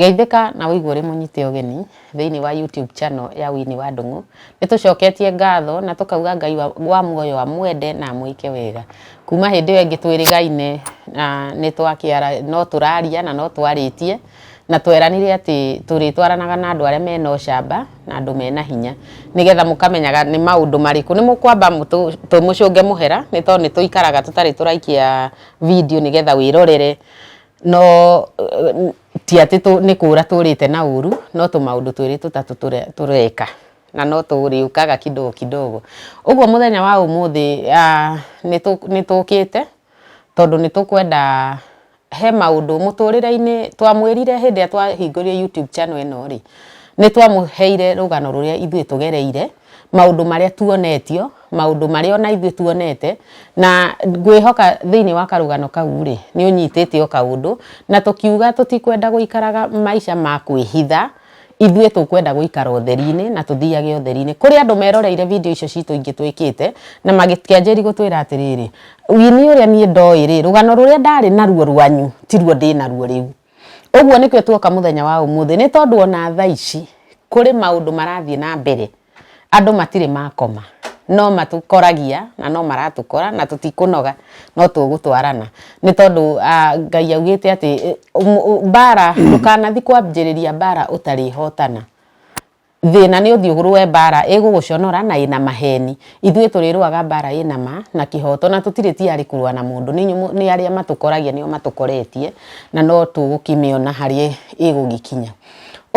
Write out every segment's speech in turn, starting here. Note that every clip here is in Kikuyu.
Geithĩka na ũigue ũrĩ mũnyite ũgeni thĩinĩ wa YouTube channel ya Winnie wa Ndũng'ũ. Nĩ tũcoketie ngatho na tũkauga Ngai wa, wa muoyo amwende na amwĩke wega. Kuma hĩndĩ ĩyo ĩngĩ twĩrĩgaine na nĩ twakĩara, no tũraria na no twarĩtie na tweranire atĩ tũrĩtwaranaga na andũ arĩa mena ũcamba na andũ mena hinya nĩgetha mũkamenyaga nĩ maũndũ marĩkũ nĩ mũkwamba mũtũ- tũmũcũnge mũhera nĩ tondũ nĩ tũikaraga tũtarĩ tũraikia video nĩgetha wĩrorere No eh, ti atĩ tũ- nĩ kũũra tũũrĩte na ũru no tũmaũndũ twĩrĩ tũtatũ tũre- tũreka na no tũrĩũkaga kidogo kidogo ũguo mũthenya wa ũmũthĩ ah, nĩ tũ- nĩ tũkĩte tondũ nĩ tũkwenda he maũndũ mũtũrĩre-inĩ twamwĩrire hĩndĩ ĩrĩa twahingũrire youtube channel ĩno rĩ nĩ twamũheire rũgano rũrĩa ithuĩ tũgereire maũndũ marĩa tuonetio, maũndũ marĩa ona ithuĩ tuonete, na ngwĩhoka thĩinĩ wa karũgano kau rĩ, nĩ ũnyitĩte o kaũndũ, na tũkiuga tũtikwenda gũikaraga maica ma kwĩhitha, ithuĩ tũkwenda gũikara ũtheri-inĩ na tũthiage ũtheri-inĩ. Kũrĩ andũ meroreire video icio citũ ingĩ twĩkĩte, na makĩanjĩrĩria gũtwĩra atĩrĩrĩ, Winnie ũrĩa niĩ ndoĩ rĩ, rũgano rũrĩa ndarĩ naruo rwanyu tiruo ndĩ naruo rĩu. Ũguo nĩkĩo tuoka mũthenya wa ũmũthĩ nĩ tondũ ona thaa ici kũrĩ maũndũ marathiĩ na mbere andũ matirĩ makoma no matũkoragia na no maratũkora na tũtikũnoga no tũgũtwarana nĩ tondũ Ngai augĩte atĩ mbara ndũkanathiĩ kwambĩrĩria mbara ũtarĩhotana. Thĩna nĩ ũthiũgũrũ we mbara ĩgũgũconora na ĩna maheni. Ithuĩ tũrĩrũaga mbara ĩna ma na kĩhoto na tũtirĩ tiarĩ kũrũa na mũndũ nĩ inyuĩ nĩ arĩa matũkoragia nĩo matũkoretie na no tũgũkĩmĩona harĩa ĩgũgĩkinya.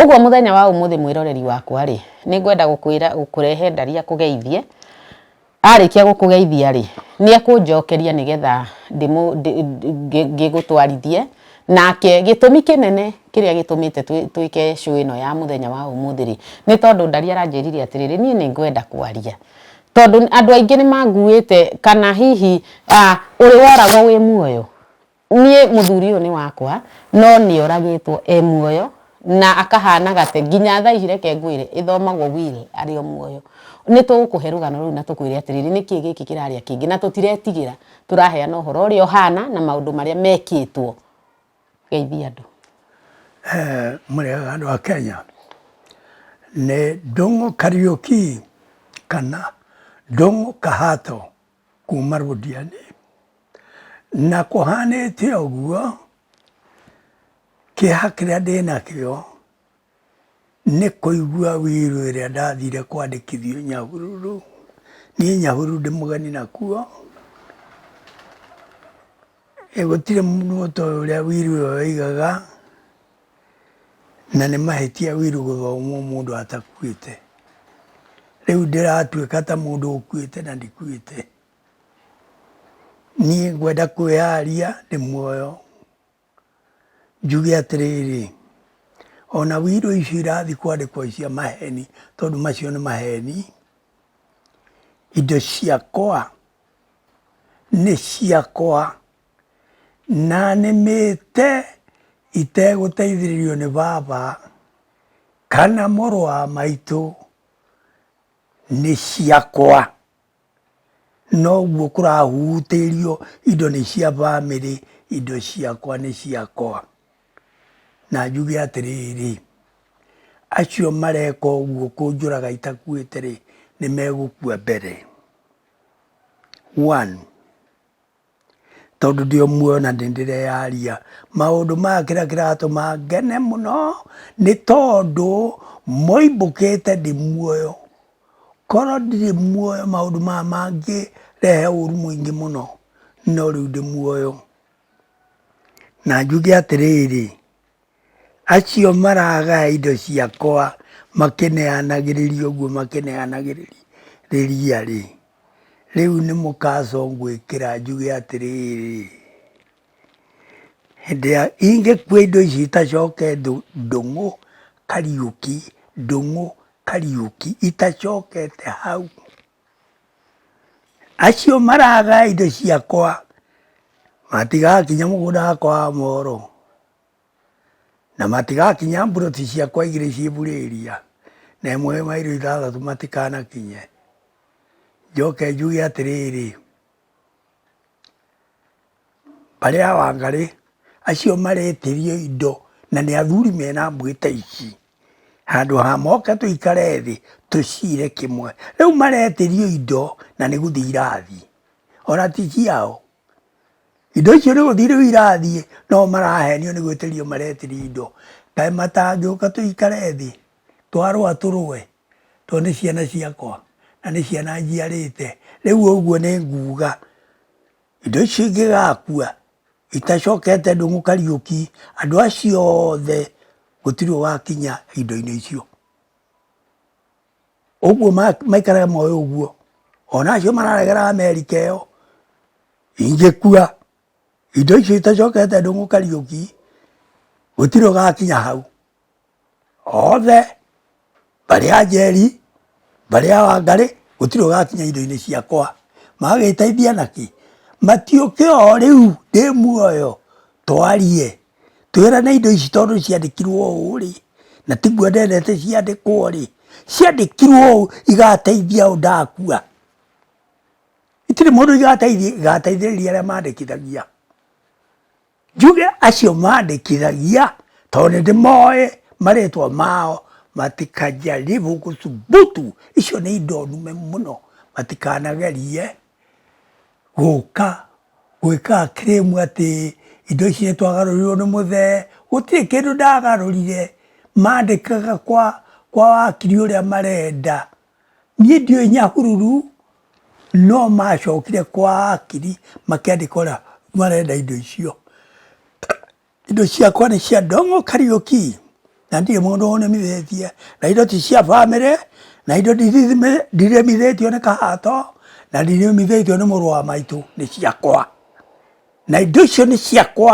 Ũguo mũthenya wa ũmũthĩ mwĩroreri wakwa rĩ, nĩ ngwenda gũkwĩra gũkũrehe ndari akũgeithie. Arĩkia gũkũgeithia-rĩ, nĩekũnjokeria nĩgetha ngĩgũtwarithie, nake gĩtũmi kĩnene kĩrĩa gĩtũmĩte twĩke show ĩno ya mũthenya wa ũmũthĩ-rĩ, nĩ tondũ Ndari aranjĩrire atĩrĩrĩ, niĩ nĩngwenda kwaria, tondũ andũ aingĩ nĩmanguĩte kana hihi ũrĩ woragwo wĩ muoyo? Niĩ mũthuri ũyũ nĩ wakwa, no nĩ oragĩtwo e muoyo na akahana gate, nginya thaa ici reke ngwĩre ĩthomagwo will arĩ o muoyo. Nĩ tũgũkũhe rũgano rũu na tũkwĩre atĩrĩrĩ nĩ kĩĩ gĩkĩ kĩrarĩa kĩngĩ, na tũtiretigĩra, tũraheana ũhoro ũrĩa ũhana na maũndũ marĩa mekĩtwo. Geithia andũ. Eeh mũrĩega andũ a Kenya, nĩ Ndũng'ũ Kariuki kana Ndũng'ũ Kahato. Kuuma rũthianĩ. Na kũhanĩte ũguo, kĩeha kĩrĩa ndĩ nakĩo nĩ kũigua wĩrũ ĩrĩa ndathire kwandĩkithio Nyahururu. Niĩ Nyahururu ndĩ mũgeni nakuo. gũtirĩ mũndũ mũto ũrĩa wiru ũyo waigaga na nĩ mahĩtia wiru gũthomwo mũndũ atakuĩte rĩu ndĩratuĩka ta mũndũ ũkuĩte na ndikuĩte niĩ ngwenda kwĩyaria ndĩ muoyo njuge atĩrĩrĩ ona wiru icio irathiĩ kwandĩkwo cia maheni tondũ macio nĩ maheni indo ciakwa nĩ ciakwa, na nĩmĩte itegũteithĩrĩrio nĩ baba kana mũrũ wa maitũ, nĩ ciakwa. Noguo kũrahutĩrio indo nĩ cia bamĩrĩ, indo ciakwa nĩ ciakwa. Na njuge atĩrĩrĩ, acio mareka ũguo kũnjũraga itakuĩte-rĩ, nĩmegũkua mbere. One, tondũ ndĩ o muoyo na nĩ ndĩreyaria. Maũndũ maya kĩrĩa kĩratũma ngene mũno nĩ tondũ moimbũkĩte ndĩ muoyo. Korwo ndirĩ muoyo maũndũ maya mangĩrehe ũru mũingĩ mũno no rĩu ndĩ muoyo. Na njuge atĩrĩrĩ. Acio maragaya indo ciakwa makĩneanagĩrĩria ũguo makĩneanagĩrĩria-rĩ, rĩu nĩ mũkacũ ngwĩkĩra njuge atĩrĩrĩ, hĩndĩ ĩrĩa ingĩkua indo ici itacoke ndũng'ũ Kariuki, ndũng'ũ Kariuki itacokete hau. Acio maraga indo ciakwa matigakinya mũgũnda wakwa wa moro na matigakinya mburoti ciakwa igĩrĩ ciĩ Burĩria na ĩmwe ĩ mairo ithathatũ matikanakinye. Njoke njuge atĩrĩrĩ... mbarĩ ya Wangarĩ, acio maretĩrio indo na nĩ athuri mena mwĩta ici. Handũ ha moke tũikare thĩ tũcire kĩmwe. Rĩu maretĩrio indo na nĩ gũthiĩ irathiĩ. Ona ti ciao. Indo icio nĩ gũthiĩ rĩu irathiĩ no marahenio nĩ gwĩtĩrio maretĩrio indo. Kaĩ matangĩũka tũikare thĩ twarũa tũrũe tondũ nĩ ciana ciakwa na nĩ ciana njiarĩte. Rĩu ũguo nĩ nguga. Indo ici ingĩgakua, itacokete ndũng'ũ Kariũki, andũ acio othe gũtirĩ wakinya indo-inĩ icio. Ũguo maikare moĩ ũguo. Ona acio mararegera Amerika ĩyo, ingĩkua, indo icio itacokete ndũng'ũ Kariũki, gũtirĩ ũgakinya hau. othe mbarĩ ya Njeri, mbarĩ ya Wangarĩ, gũtirĩ ũgakinya indo-inĩ ciakwa. Magagĩteithia na kĩ? Matiũke o rĩu ndĩ muoyo twarie, twĩrane indo ici tondũ ciandĩkirwo ũũ rĩ, na tiguo ndendete ciandĩkwo rĩ, ciandĩkirwo ũũ igateithia ũ ndakua? Itirĩ mũndũ igateithia, igateithĩrĩria arĩa mandĩkithagia. Njuge acio mandĩkithagia tondũ nĩ ndĩmoĩ marĩtwa mao matikajaribu gũthubutu, icio nĩ indo nũme mũno, matikanagerie gũka gwĩka claim atĩ indo ici nĩ twagarũrirwo nĩ mũthee, gũtirĩ kĩndũ ndagarũrire, mandĩkaga kwa wakiri ũrĩa marenda. Niĩ ndiũĩ Nyahururu, no macokire kwa akiri makĩandĩka ũrĩa marenda indo icio. Indo ciakwa nĩ cia Ndong'o Kariũki, na ndirĩ mũndũ ũnũmithĩtie, na indo ti cia bamĩrĩ, na indo ndirĩmithĩtio nĩ Kahato, na ndirĩmithĩtio nĩ mũrũ wa maitũ, nĩ ciakwa. Na indo icio nĩ ciakwa.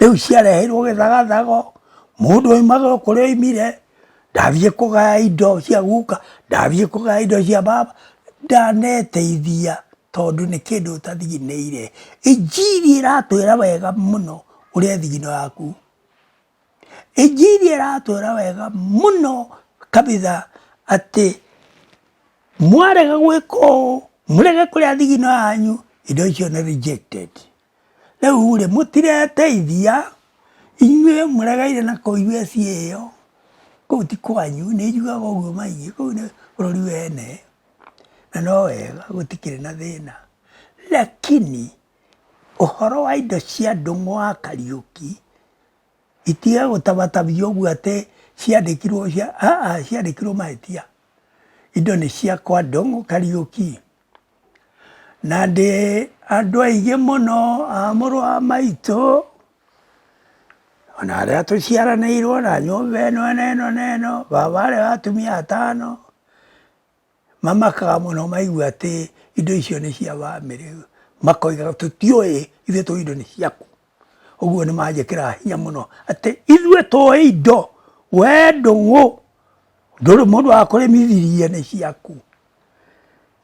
rĩu ciareheirwo gĩthagathago mũndũ oimagĩrwo kũrĩa oimire ndathiĩ kũgaya indo cia guka ndathiĩ kũgaya indo cia baba ndaneteithia tondũ nĩ kĩndũ ũtathiginĩire injiri ĩratwĩra wega mũno ũrĩa thigino yaku injiri ĩratwĩra wega mũno kabitha atĩ mwarega gwĩka ũũ mũrege kũrĩa thigino yanyu indo icio nĩ rejected. Rĩu-rĩ, mũtireteithia, inyuĩ mũregeire na kũu USA ĩyo, kũu ti kwanyu, nĩ njiguaga ũguo maingĩ, kũu nĩ bũrũri wa ene, na no wega gũtikĩrĩ na thĩna, lakini ũhoro wa indo cia ndũng'ũ wa Kariũki, itige gũtabatabia ũguo atĩ ciandĩkirwo cia, aa, ciandĩkirwo mahĩtia, indo nĩ ciakwa ndũng'ũ Kariũki. Na ndĩ andũ aingĩ mũno a mũrũ wa maitũ, ona arĩa tũciaranĩirwo na nyũmba ĩno na ĩno na ĩno, baba arĩ wa atumia atano, mamakaga mũno maigua atĩ indo icio nĩ cia bamĩrĩ, makoiga tũtiũĩ, ithuĩ tũĩ indo nĩ ciaku. Ũguo nĩ manjĩkĩraga hinya mũno atĩ ithuĩ tũĩ indo, we ndũũ, ndũrĩ mũndũ wa kũrĩmithirie nĩ ciaku.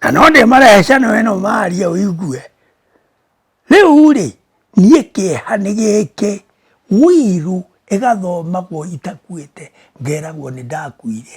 Na no ndĩmarehe cano ĩno marie ũigue. Rĩu-rĩ, niĩ kĩeha nĩ gĩkĩ, wĩiru ĩgathomagwo itakuĩte, ngeragwo nĩ ndakuire.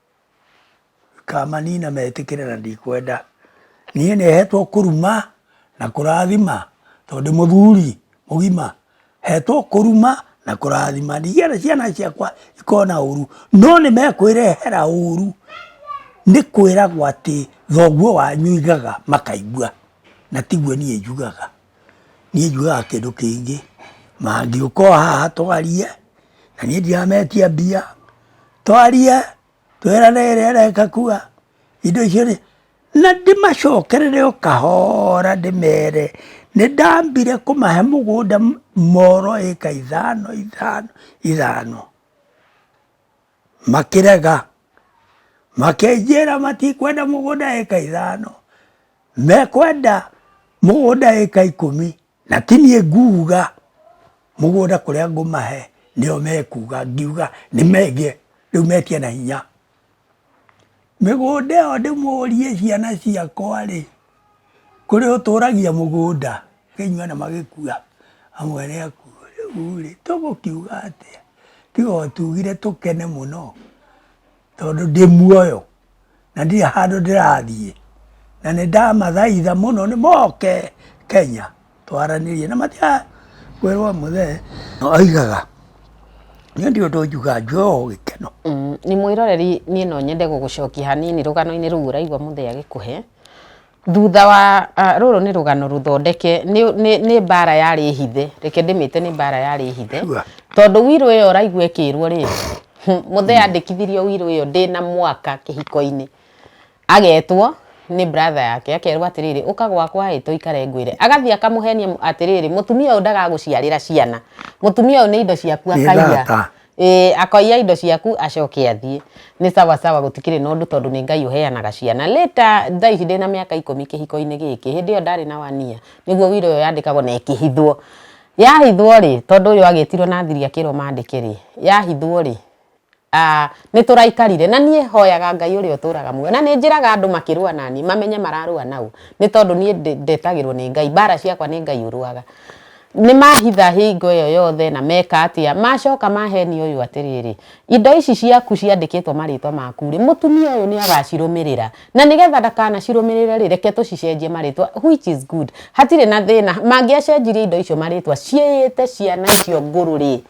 Kamanina metĩkĩre na ndikwenda. Niĩ nĩhetwo kũruma na kũrathima tondũ ndĩ mũthuri mũgima. Hetwo kũruma na kũrathima. Ndigĩenda ciana ciakwa ikona ũru. No nĩmekwĩrehera ũru. Nĩ kwĩragwo atĩ thoguo wanyu oigaga makaigua. Na tiguo niĩ njugaga. niĩ njugaga kĩndũ kĩngĩ, mangĩũka o haha twarie, na niĩ ndirametia mbia, twarie, twerane ĩrĩa ĩreka kuga, indo icio nĩ, na ndĩmacokerere o kahoora ndĩmere, nĩndambire kũmahe mũgũnda moro ĩka ithano ithano ithano. makĩrega, makĩnjĩra matikwenda mũgũnda ĩka ithano, mekwenda mũgũnda ĩka ikũmi, na ti niĩ nguga mũgũnda kũrĩa ngũmahe, nĩo mekuga, ngiuga nĩmendie, rĩu metia na hinya. Mĩgũnda ĩyo ndĩmũrie ciana ciakwa-rĩ, kũrĩ ũtũragia mũgũnda? Rĩu inyuothe magĩkua, amwene akuo. Rĩu-rĩ, tũgũkiuga atĩa? Tiga o tugire tũkene mũno tondũ ndĩ muoyo na ndirĩ handũ ndĩrathiĩ, na nĩndamathaitha mũno moke Kenya. twaranĩrie na matiakwĩrwo mũthee oigaga niĩ ndi ũndũ njuga njuga o gĩkeno Mm, nĩ mwĩroreri niĩ no nyende gũgũcokia hanini rũgano-inĩ rũu ũraigua mũthee agĩkũhe thutha wa ah, rũrũ nĩ rũgano rũthondeke nĩ- nĩ nĩ mbara yarĩ hithe reke ndĩmĩte nĩ mbara yarĩ hithe Sure. tondũ wirũ ĩyo ũraigua ĩkĩrwo rĩ mũthee andĩkithirio wirũ ĩyo ndĩ na mwaka kĩhiko-inĩ Agetwo nĩ brother yake akerwo atĩrĩrĩ ũka gwakwa ĩ tũikare ngwĩre agathiĩ akamũhenia mu- atĩrĩrĩ mũtumia ũyũ ndagagũciarĩra ciana mũtumia ũyũ nĩ indo ciaku Nĩ akaiya thata. Ĩĩ, akoiya indo ciaku acoke athiĩ nĩ sawa sawa gũtikĩrĩ na ũndũ tondũ nĩ ngai ũheanaga ciana later thaa ici ndĩna mĩaka ikũmi kĩhiko-inĩ gĩkĩ hĩndĩ ĩyo ndarĩ na wania nĩguo wira ũyũ yandĩkagwo na ĩkĩhithwo yahithwo rĩ tondũ ũyũ agetirwo na thiri akĩrwo mandĩke rĩ yahithwo rĩ Ah, nĩ tũraikarire na niĩ hoyaga ngai ũrĩa ũtũraga muoyo na nĩ njĩraga andũ makĩrũa nani mamenye mararũa naũ nĩ tondũ niĩ ndĩ- ndetagĩrwo nĩ ngai mbara ciakwa nĩ ngai ũrũaga nĩ mahitha hingo ĩyo yothe na meka atĩa macoka maheni ũyũ atĩrĩrĩ indo ici ciaku ciandĩkĩtwo marĩtwa maku rĩ mũtumia ũyũ nĩ agacirũmĩrĩra na nĩgetha ndakanacirũmĩrĩre rĩ reke tũcicenjie marĩtwa which is good hatirĩ na thĩna mangĩacenjirie indo icio marĩtwa ciĩyĩte ciana icio ngũrũ rĩ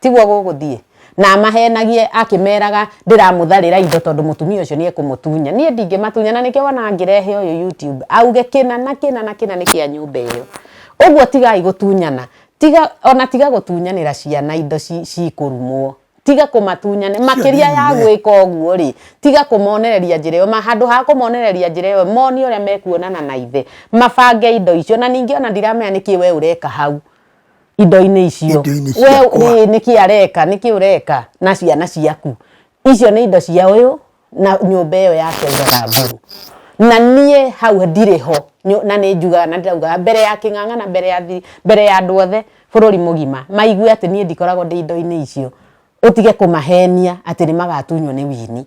tiguo gũgũthiĩ na amahenagie akĩmeraga ndĩramũtharĩra indo tondũ mũtumia ũcio nĩ ekũmũtunya niĩ ndingĩmatunya na nĩkĩo wona ngĩrehe ũyũ YouTube auge kĩna na kĩna na kĩna nĩ kĩa nyũmba ĩyo ũguo tigai gũtunyana tiga ona tiga gũtunyanĩra ciana indo ci- cikũrumwo tiga kũmatunyane makĩria ya nene. gwĩka ũguo rĩ tiga kũmonereria njĩra ĩyo ma handũ ha kũmonereria njĩra ĩyo monie ũrĩa mekuonana na ithe mabange indo icio na ningĩ ona ndiramenya nĩkĩ we ũreka hau indo-inĩ icio Indo-inĩ we ciakwa. ĩ, nĩkĩ areka nĩkĩ ũreka na ciana ciaku icio nĩ indo cia ũyũ na nyũmba ĩyo yake augaga nguru na niĩ hau ndirĩ ho Nyo- na nĩ njugaga na ndĩraugaga mbere ya kĩng'ang'a na mbere ya thiri mbere ya andũ othe bũrũri mũgima maigue atĩ niĩ ndikoragwo ndĩ indo-inĩ icio ũtige kũmahenia atĩ nĩ magatunywo nĩ wini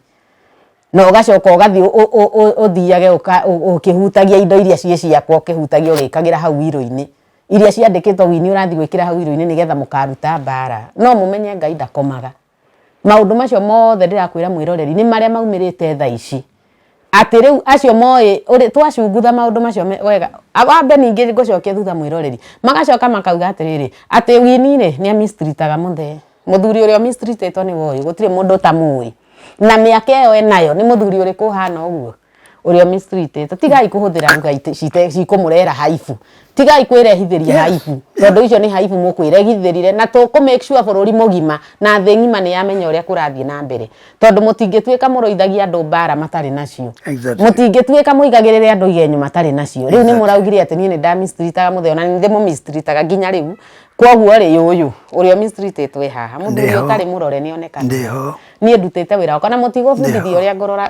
na ũgacoka ũgathiĩ ũ- ũ- ũ- ũ- ũthiage ũka- ũ- ũkĩhutagia indo iria ciĩ ciakwa ũkĩhutagia ũgĩkagĩra hau wirũ-inĩ iria ciandĩkĩtwo wini ũrathiĩ gwĩkĩra hau irio-inĩ nĩgetha mũkaruta mbara no mũmenye ngai ndakomaga maũndũ macio mothe ndĩrakwĩra mwĩroreri nĩ marĩa maumĩrĩte tha ici atĩ rĩu acio moĩ ũrĩ twacungutha maũndũ macio me- wega A- wambe ningĩ ngũcokia thutha mwĩroreri magacoka makauga atĩrĩrĩ atĩ wini rĩ nĩ amistritaga mũthee mũthuri ũrĩa ũmistritetwo nĩ woĩ gũtirĩ mũndũ ũtamũĩ na mĩaka ĩyo enayo nĩ mũthuri ũrĩkũ ũhana ũguo uria misri itete tigai kuhuthira ngai cikumurehera haibu tigai kwirehithiria haibu tondu icio ni haibu mukwirehithirire na tuku make sure bururi mugima na thi ngima ni yamenya uria kurathie na mbere tondu mutingituika muruithagia andu mbara matari nacio mutingituika muigagirire andu igenyo matari nacio riu ni muraugire ati ni ni nda mistreataga muthee ona ni ndimu mistreataga nginya riu koguo ri uyu uria mistreatetwo e haha mundu uria utari murore ni onekana ni ndutite wira wakwa na mutigubundithia uria ngurora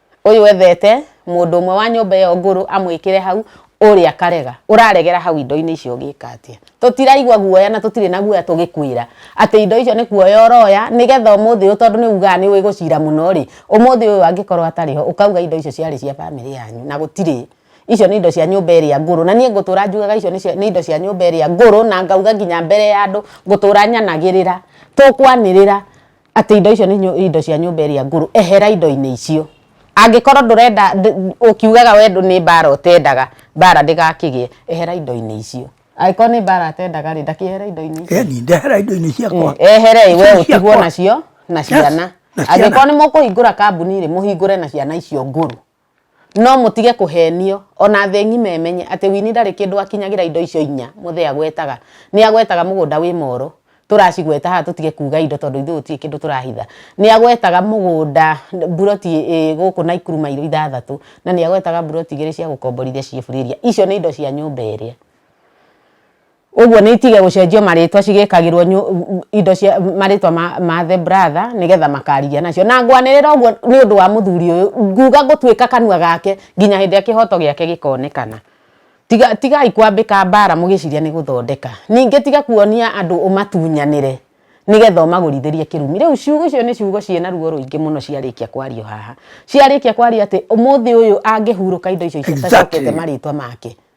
ũyũ ethete mũndũ ũmwe wa nyũmba ĩyo ngũrũ amwĩkĩre hau ũrĩa akarega ũraregera hau indo-inĩ icio ũgĩka atĩa tũtiraigua guoya na tũtirĩ na guoya tũgĩkwĩra atĩ indo icio nĩ kuoya ũroya nĩgetha ũmũthĩ ũyũ tondũ nĩ ugaga nĩ ũĩ gũcira mũno rĩ ũmũthĩ ũyũ angĩkorwo atarĩ ho ũkauga indo icio ciarĩ cia bamĩrĩ yanyu na gũtirĩ icio nĩ indo cia nyũmba ĩrĩa ngũrũ na niĩ ngũtũra njugaga icio nĩ cia- nĩ indo cia nyũmba ĩrĩa ngũrũ na ngauga nginya mbere ya andũ ngũtũra nyanagĩrĩra tũkwanĩrĩra atĩ indo icio nĩ indo cia nyũmba ĩrĩa ngũrũ ehera indo-inĩ icio angĩkorwo ndũrenda ũkiugaga we nĩ mbara ũtendaga mbara ndĩgakĩgĩe ehera indo-inĩ icio angĩkorwo nĩ mbara atendaga rĩ ndakĩehere indo-inĩ icio ndehera indo-inĩ ciakwa mm, ehere we ũtigwo nacio na ciana angĩkorwo nĩ mũkũhingũra kambuni rĩ mũhingũre na ciana icio ngũrũ No mũtige kũhenio, o na thĩ ng'ima ĩmenye atĩ Winnie ndarĩ kĩndũ akinyagĩra indo icio inya Muthee agwetaga. Nĩ agwetaga mũgũnda wĩ Moro, tũracigweta haha tũtige kuuga indo tondũ ithuĩ gũtirĩ kĩndũ tũrahitha. Nĩ agwetaga mũgũnda, mburoti ĩ gũkũ Naikuru mairũ ithathatũ, na nĩ agwetaga mburoti igĩrĩ cia gũkomborithia ciĩ free area. Icio nĩ indo cia nyũmba ĩrĩa. Ũguo nĩ itige gũcenjio marĩtwa cigĩkagĩrwo nyu, indo cia marĩtwa ma, ma the brother nĩgetha makarigia nacio na ngwanĩrĩra ũguo nĩ ũndũ wa mũthuri ũyũ nguga gũtuĩka kanua gake nginya hĩndĩ ĩrĩa kĩhoto gĩake gĩkonekana tiga, tigai kwambĩka mbara mũgĩciria nĩ gũthondeka ningĩ tiga kuonia andũ ũmatunyanĩre nĩgetha ũmagũrithĩrie kĩrumi rĩu ciugo icio nĩ ciugo ciĩna ruo rũingĩ mũno ciarĩkia kwario haha ciarĩkia kwaria atĩ ũmũthĩ ũyũ angĩhurũka indo icio itacokete Exactly. marĩtwa make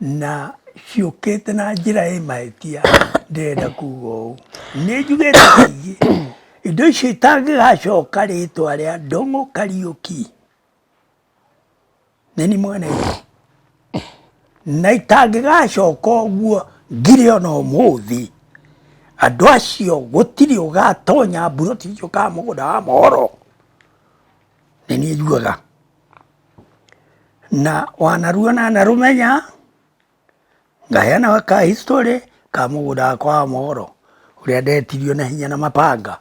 na ciũkĩte na njĩra ĩ mahĩtia ndĩrenda kuga ũũ nĩ njugĩte kaingĩ indo icio itangĩgacoka rĩtwa rĩa ndũng'ũ kariũki nĩ ni mwene na itangĩgacoka ũguo ngire ona ũmũthĩ andũ acio gũtirĩ ũgatonya mburoti icio kana mũgũnda wa mohoro nĩ niĩ njugaga na wanaruona na rũmenya ngaheana ka history ka mũgũnda wakwa wa mohoro ũrĩa ndetirio na hinya na mabanga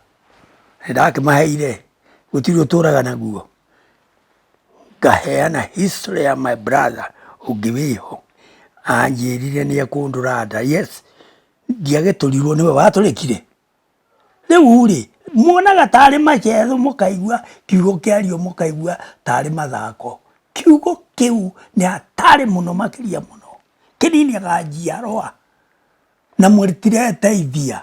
ndakĩmaheire gũtirĩ ũtũraga naguo ngaheana history ya my brother ũngĩ wĩho anjĩrire nĩ ekũndũra nda yes ndiagĩtũrirwo nĩwe watũrĩkire Rĩu rĩ, muonaga tarĩ maceero mũkaigua kiugo kĩario mũkaigua tarĩ mathako. Kiugo kĩu nĩ hatarĩ mũno makĩria mũno. Kĩninaga njiarwa na mũtireteithia.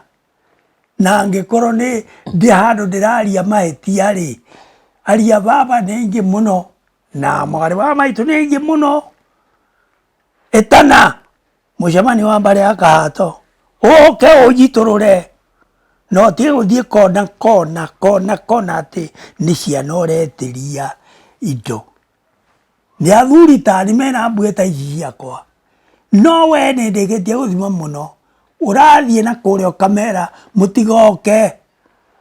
Na angĩkorwo nĩ ndĩ handũ ndĩraria mahĩtia rĩ, ariũ a baba nĩ aingĩ mũno na mwarĩ wa maitũ nĩ aingĩ mũno. Etana! mũcemanio wa mbarĩ ya kahato ũke ũnjitũrũre no ti gũthiĩ kona kona kona kona atĩ nĩ ciana ũretĩria indo nĩ athuri tani mena mbuĩ ta ici ciakwa no we nĩ ndĩkĩtie gũthima mũno ũrathiĩ na kũrĩa ũkamera mũtigoke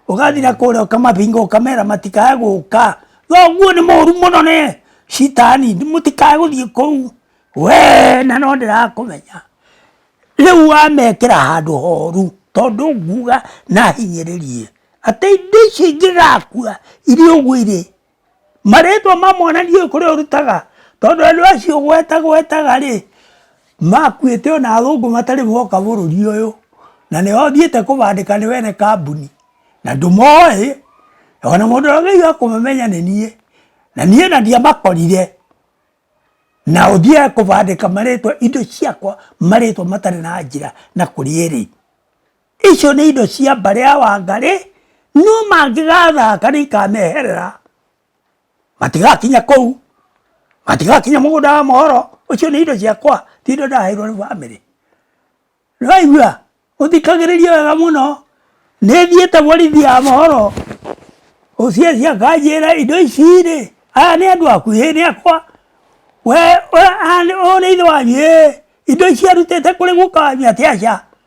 ugathira kuria ukamabinga ukamera matikae guka thoguo ni moru muno ni citani mutikae guthii kuu we na no ndirakumenya riu wamekira handu horu tondu nguga na hinyiririe ati indo icio ingigakua iria ugwire marĩtwa ma mwana ndiũĩ kũrĩa ũrutaga tondũ andũ acio gwetagwetaga rĩ makuĩte ona athũngũ matarĩ moka bũrũri ũyũ na nĩo thiĩte kũbandĩka nĩ wene kambuni na ndũmoĩ ona mũndũ ũrĩa ũgeire kũmamenya nĩ niĩ na niĩ na ndiamakorire na ũthiaga kũbandĩka marĩtwa indo ciakwa marĩtwa matarĩ na njĩra na kũrĩa ĩrĩ. Icio nĩ indo cia mbarĩ ya Wangarĩ, no mangĩgathaka nĩ ikameherera. Matigakinya kũu, matigakinya mũgũnda wa mohoro, ũcio nĩ indo ciakwa, ti indo ndaheirwo nĩ bamĩrĩ. Nĩ waigua? Ũthikagĩrĩrie wega mũno, nĩ thiĩte borithi ya mohoro, OCS akanjĩra indo ici rĩ, aya nĩ andũ aku? Ĩĩ nĩ akwa. We ũyũ nĩ ithe wanyu? Ĩĩ. Indo ici arutĩte kũrĩ guka wanyu atĩ? Aca.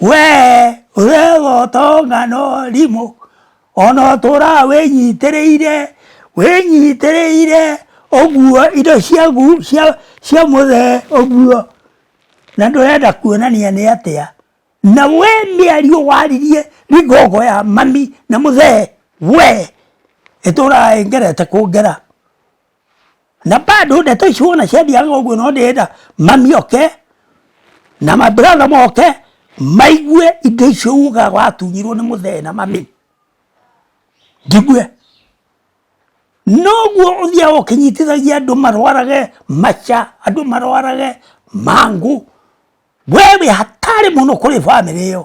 Wee ũregota ng'ano rimũ ona ũtũra wĩnyitĩrĩire wĩnyitĩrĩire ũguo indo ciagu cia cia mũthee ũguo na ndũrenda kuonania nĩ atĩa na we mĩario waririe nĩ ngogo ya mami na mũthee we ĩtũraga ĩngerete kũngera. na bado ndeto icio ona ciathiaga ũguo no ndĩrenda mami oke na mabratha moke maigue indo icio ugaga watunyirwo nĩ mũthee na mami njigue noguo ũthiaga ũkĩnyitithagia andũ marwarage maca andũ marwarage mangũ we wĩ hatarĩ mũno kũrĩ bamĩrĩ ĩyo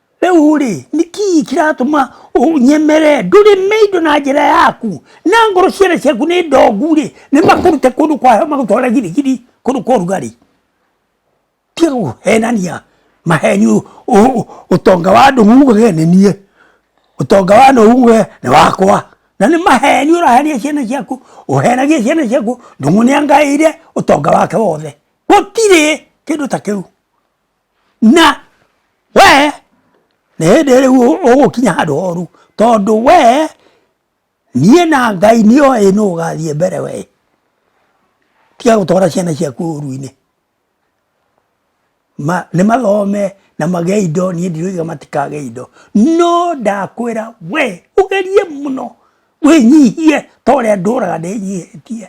rĩu rĩ nĩ kii kĩratũma ũnyemere ndũrĩ mĩindo na njĩra yaku na ngoro ciana ciaku nĩ ndongu rĩ nĩ makũrute kũndũ kwa heho magũtwara girigiri kũndũ kwa ũrugarĩ tiga kũhenania maheni ũ- ũ- ũ- ũtonga wa andũ muge nĩ niĩ ũtonga wa andũ muge nĩ wakwa na nĩ maheni ũrahenia ciana ciaku ũhenagia ciana ciaku ndũng'ũ nĩ angaĩire ũtonga wake wothe gũtirĩ kĩndũ ta kĩu na we nĩ hĩndĩ rĩu ũgũkinya handũ horu tondũ we niĩ na ngai nĩ oĩ nũ ũgathiĩ mbere we tiga gũtwara ciana ciaku ũru-inĩ ma, nĩ mathome na magĩe indo niĩ ndiroiga matikagĩa indo no ndakwĩra we ũgerie mũno wĩnyihie ta ũrĩa ndũraga ndĩnyihĩtie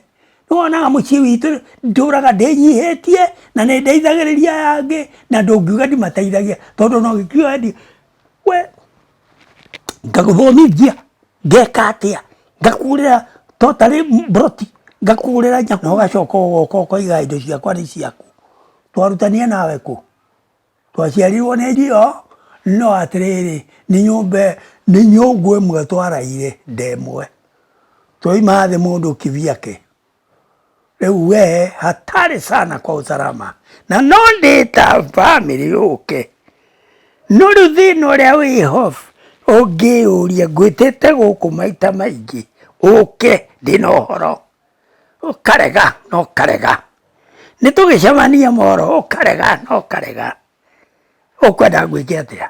nĩwonaga mũciĩ witũ ndũraga ndĩnyihĩtie na nĩ ndeithagĩrĩria yangĩ na ndũngiuga ndimateithagia tondũ no gĩkiuga ndi we ngagũthomithia ngeka atĩa ngakũgũrĩra to tarĩ mburoti ngakũgũrĩra nyama ũgacoka ũgoka ũkoiga indo ciakwa nĩ ciaku twarutania nawe kũ twaciarirwo nĩ njio no atĩrĩrĩ nĩ nyũmba nĩ nyũngũ ĩmwe twaraire ndemwe twaima thĩ mũndũ kivyake rĩu we hatarĩ sana kwa usalama na no ndĩta bamĩrĩ yũke no rĩu thĩna ũrĩa wĩho ũngĩyũria ngwĩtĩte gũkũ maita maingĩ ũke ndĩna ũhoro ũkarega na ũkarega nĩ tũgĩcemania moro ũkarega na ũkarega ũkwenda ngwĩke atĩa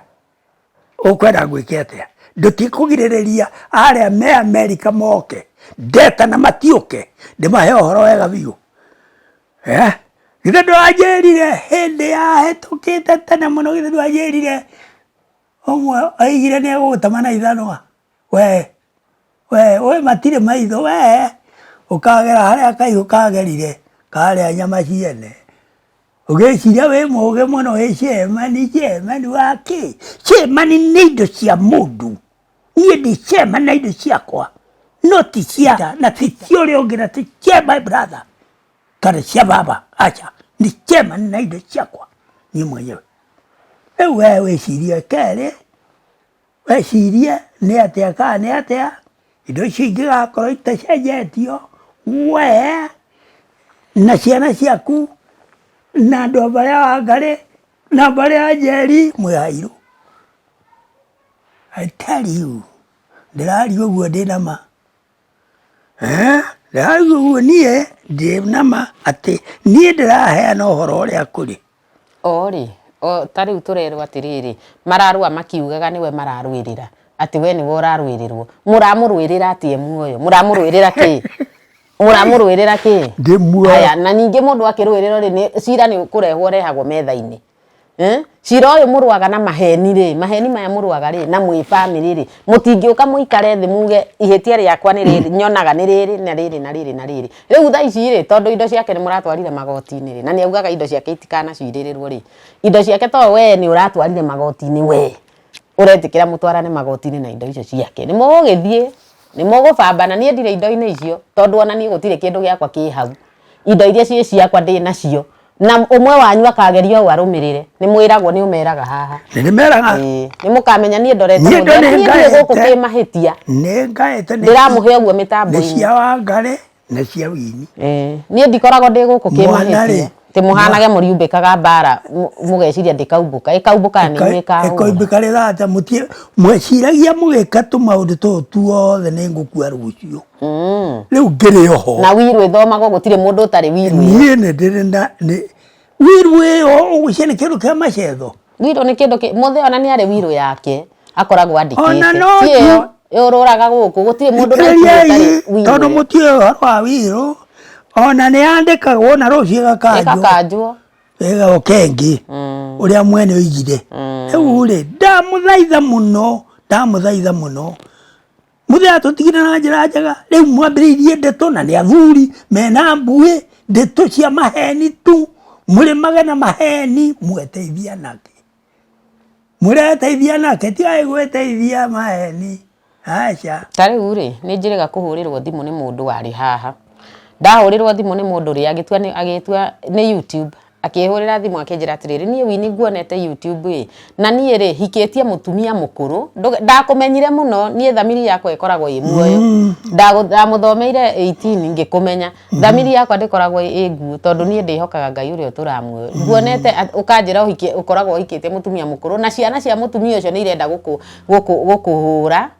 ũkwenda ngwĩke atĩa ndũtikũgirĩrĩria arĩa me amerika moke ndeta na matiũke ndĩmahe ũhoro wega biũ eh? githĩ ndwanjĩrire hĩndĩ ya hĩtũkĩte tene mũno githĩ ndwanjĩrire ũmwe aigire nĩ egũgũtama na ithanwa we we we matirĩ maitho we ũkagera harĩa kaigũ kagerire karĩa nyama ciene ũgĩciria wĩ mũgĩ mũno wĩ cemani cemani wa kĩ cemani nĩ indo cia mũndũ niĩ ndi cema na indo ciakwa no ti cia na ti cia ũrĩa ũngĩ na ti cia my brother kana cia baba aca nĩ cema na indo ciakwa niĩ mwenyewe rĩu we wĩcirie kerĩ wecirie nĩ atĩa kana nĩ atĩa indo icio ingĩgakorwo itacenjetio we na ciana ciaku na andũ a mbarĩ ya Wangarĩ na mbarĩ ya Njeri mwĩ airũ. I tell you ndĩraria ũguo ndĩna ma. Ndarauga ũguo niĩ ndĩ na ma atĩ niĩ ndĩraheana ũhoro ũrĩa kũrĩ. O rĩ, ta rĩu tũrerwo atĩrĩrĩ, mararũa makiugaga nĩwe mararũĩrĩra, atĩ we nĩwe ũrarũĩrĩrwo. Mũramũrũĩrĩra atĩ e muoyo? Mũramũrũĩrĩra kĩ? Mũramũrũĩrĩra kĩ? Ndĩ muoyo. Haya, na ningĩ mũndũ akĩrũĩrĩrwo rĩ, cira nĩ kũrehwo ũrehagwo metha-inĩ. Eh? cira ũyũ mũrũaga na maheni rĩ maheni maya mũrũaga rĩ na mwĩ bamĩrĩ rĩ mũtingĩũka mũikare thĩ muge ihĩtia rĩakwa nĩ rĩrĩ nyonaga nĩ rĩrĩ na rĩrĩ na rĩrĩ na rĩrĩ rĩu tha ici rĩ tondũ indo ciake nĩ mũratwarire magoti-inĩ rĩ na nĩ augaga indo ciake itikanacirĩrĩrwo rĩ indo ciake to we nĩ ũratwarire magoti-inĩ we ũretĩkĩra mũtwarane magoti-inĩ na indo icio ciake nĩ mũgũgĩthiĩ nĩ mũgũbambana niĩ ndirĩ indo-inĩ icio tondũ ona niĩ gũtirĩ kĩndũ gĩakwa kĩ hau indo iria ciĩ ciakwa ndĩ nacio na ũmwe wanyu akageria ũũ arũmĩrĩre nĩ mwĩragwo nĩ ũmeraga haha Nĩ ndĩmeraga Ĩĩ, nĩ mũkamenya niĩ ndorete Niĩ mũndũ ndĩ niĩ ndirĩ gũkũ ngaĩte. kĩmahĩtia nĩ ngaĩte nĩ- ndĩramũhe ũguo nĩ mĩtambo-inĩ cia wangare na cia wini Eh, niĩ ndikoragwo ndĩ gũkũ Mwana-rĩ, kĩmahĩtia ati muhanage muriumbikaga mbara mu- mugeciria ndikaumbũka ikaumbũka ni mwikaga ikoimbika rä thate mweciragia må gä ka tå maå ndå tå tuothe nä ngå kua rå cio rĩu ngĩrĩ oho na wiru ĩthomagwo gũtirĩ mũndũ ũtarĩ wiru niĩ nĩ ndĩrĩ na wiru ĩyo ũgũcia nĩ kĩndũ kĩa macetho wiru nĩ kĩndũ mũthĩ ona nĩ arĩ wiru yake akoragwo andĩkĩte yũrũraga gũkũ gũtirĩ mũndũ tondũ mũtiĩ ũhoro wa wirũ ona nĩ yandĩkagwo na rũciũ ĩgakanjwo wega ũkengĩ mm. ũrĩa mwene oigire mm. rĩu rĩ ndamũthaitha mũno ndamũthaitha mũno mũthee atũtigire na njĩra njega rĩu mwambĩrĩirie ndeto na nĩ athuri mena mbuĩ ndeto cia maheni tu mũrĩmage na maheni mweteithia nake mũreteithia nake tigai gwĩteithia maheni aca ta rĩu rĩ nĩ njĩrĩga kũhũrĩrwo thimũ nĩ mũndũ warĩ haha ndahũrĩrwo thimũ nĩ mũndũ rĩ agĩtua nĩ- agĩtua nĩ youtube akĩhũrĩra thimũ akĩnjĩra atĩrĩrĩ niĩ wini nguonete youtube ĩ na niĩ rĩ hikĩtie mũtumia mũkũrũ Ndũ- ndakũmenyire mũno niĩ thamiri yakwa ĩkoragwo ĩ muoyo Ndagũ- ndamũthomeire 18 ngĩkũmenya thamiri yakwa ndĩkoragwo ĩ nguũ tondũ niĩ ndĩhokaga ngai ũrĩa ũtũraga muoyo nguonete at- ũkanjĩra ũhikie- ũkoragwo ũhikĩtie mũtumia mũkũrũ na ciana cia mũtumia ũcio nĩ irenda gũkũ- gũkũ- gũkũhũra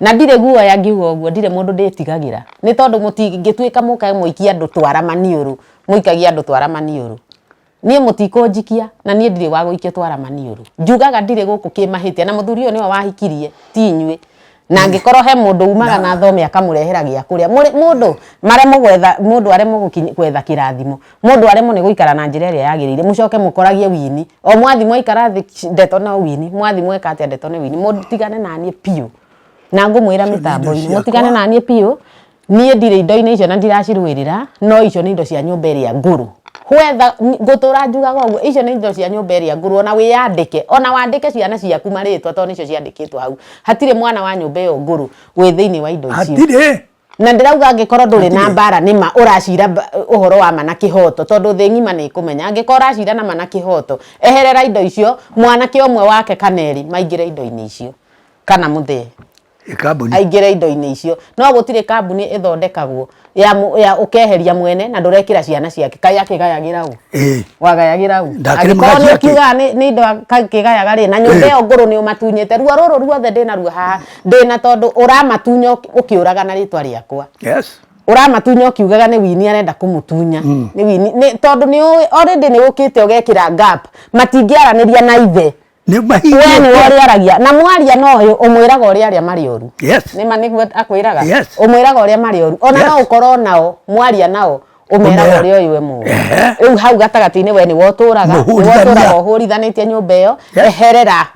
na ndirĩ guoya ngiuga ũguo ndirĩ mũndũ ndĩtigagĩra nĩ tondũ mũtingĩtuĩka mũke mũikie andũ twara maniũrũ mũikagia andũ twara maniũrũ niĩ mũtikũnjikia na niĩ ndirĩ wa gũikio twara maniũrũ njugaga ndirĩ gũkũ kĩmahĩtia na mũthuri ũyũ nĩwe wahikirie ti inyuĩ na angĩkorwo he mũndũ umaga na thome akamũrehera gĩa kũrĩa Mũrĩ- mũndũ maremwo gwetha mũndũ aremwo gũkinya- gwetha kĩrathimo Mũndũ aremwo nĩ gũikara na njĩra ĩrĩa yagĩrĩire mũcoke mũkoragie wini. O mwathi mwaikara thĩ sh- ndeto no wini, mwathi mweka atĩa ndeto nĩ wini. Mũtigane na niĩ biũ. Na ngũmwĩra Icio nĩ indo mĩtambo-inĩ ciakwa. mũtigane na niĩ biũ. Niĩ ndirĩ indo-inĩ icio na ndiracirũĩrĩra no icio nĩ indo cia nyũmba ĩrĩa ngũrũ. Whether n- ngũtũra njugaga ũguo icio nĩ indo cia nyũmba ĩrĩa ngũrũ ona wĩyandĩke ona wandĩke ciana ciaku marĩtwa tondũ nĩcio ciandĩkĩtwo hau. Hatirĩ mwana wa nyũmba ĩyo ngũrũ wĩ thĩinĩ wa indo icio. Hatirĩ. na ndĩrauga angĩkorwo ndũrĩ na mbara nĩ ma ũracira ũhoro wa ma na kĩhoto tondũ thĩ ng'ima nĩ ĩkũmenya angĩkorwo ũracira na ma na kĩhoto eherera indo icio mwanake ũmwe wake kana erĩ maingĩre indo-inĩ icio kana mũthee aingĩre indo-inĩ icio no gũtirĩ kambuni ĩthondekagwo ya, ya ũkeheria mwene na ndũrekĩra ciana ciake kai akĩgayagĩra ũ wagayagĩra ũ angĩkorwo nĩ ũkiugaga nĩ indo akĩgayaga rĩ na nyũmba ĩyo ngũrũ nĩ ũmatunyĩte ruo rũrũ ruothe ndĩnaruo haha ndĩna tondũ ũramatunya ũk- ũkĩũraga na rĩtwa rĩakwa Yes. ũramatunya ũkiugaga nĩ wini arenda kũmũtunya nĩ wini nĩ- tondũ nĩ ũĩ- already nĩ ũkĩte ũgekĩra gap matingĩaranĩria na ithe Nĩ we nĩ mahinda. ũrĩa aragia na mwaria no ũyũ ũmwĩraga ũrĩa arĩa marĩ ũru Yes. nĩma nĩguo akwĩraga Yes. ũmwĩraga ũrĩa marĩ ũru ona Yes. no ũkorwo nao mwaria nao ũmeraga Ũmera. ũrĩa ũyũ we mũru Ehe. rĩu hau gatagatĩ-inĩ we nĩ wotũraga nĩ Mũhũrithania. wotũraga ũhũrithanĩtie nyũmba ĩyo Yes. eherera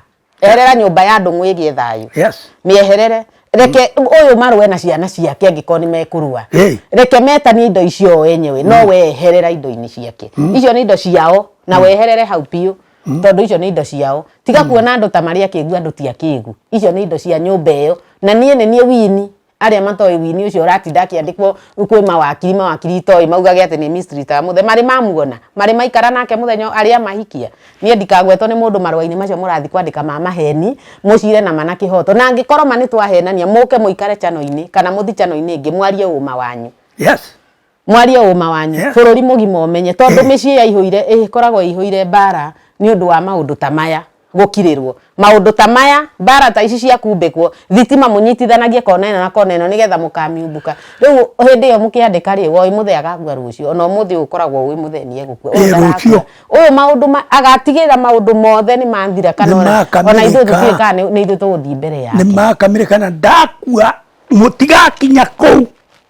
eherera nyũmba ya andũ mwĩgie thayũ Yes. mĩeherere reke ũyũ marũe na ciana ciake angĩkorwo nĩ mekũrua Hey. reke metanie indo icio o enyewe no weherera indo-inĩ ciake icio nĩ indo ciao na weherere hau biũ tondũ icio nĩ indo ciao tiga kuona andũ ta marĩ akĩgu andũ ti akĩgu icio nĩ indo cia nyũmba ĩyo na niĩ nĩ niĩ wini arĩa matoĩ wini ũcio ũratinda akĩandĩkwo kwĩ mawakiri mawakiri itoĩ maugage atĩ nĩ mystery ta mũthe marĩ mamuona marĩ maikara nake mũthenya arĩa mahikia niĩ ndikagwetwo nĩ mũndũ marũa-inĩ macio mũrathiĩ kwandĩka ma maheni mũcire na mana kĩhoto na angĩkorwo ma nĩ twahenania mũke mũikare chano-inĩ kana mũthi chano-inĩ ĩngĩ mwarie ũma wanyu yes mwarie ũma wanyu yeah. bũrũri mũgima ũmenye tondũ mĩciĩ yaihũire ĩkoragwo ĩihũire mbara nĩ ũndũ wa maũndũ ta maya gũkirĩrwo maũndũ ta maya mbara ta ici cia kumbĩkwo thitima mũnyitithanagie kona ĩno na kona ĩno nĩgetha mũkamiumbũka rĩu hĩndĩ ĩyo mũkĩandĩka rĩ woi mũthĩ agakua rũciũ ona ũmũthĩ ũkoragwo ũĩ mũthĩ nĩ egũkua ũyũ maũndũ agatigĩra maũndũ mothe nĩ manthira kana ona ithuĩ tũtiĩ kana nĩ ithuĩ tũgũthiĩ mbere yake nĩ makamirĩkana ndakua mũtigakinya kũu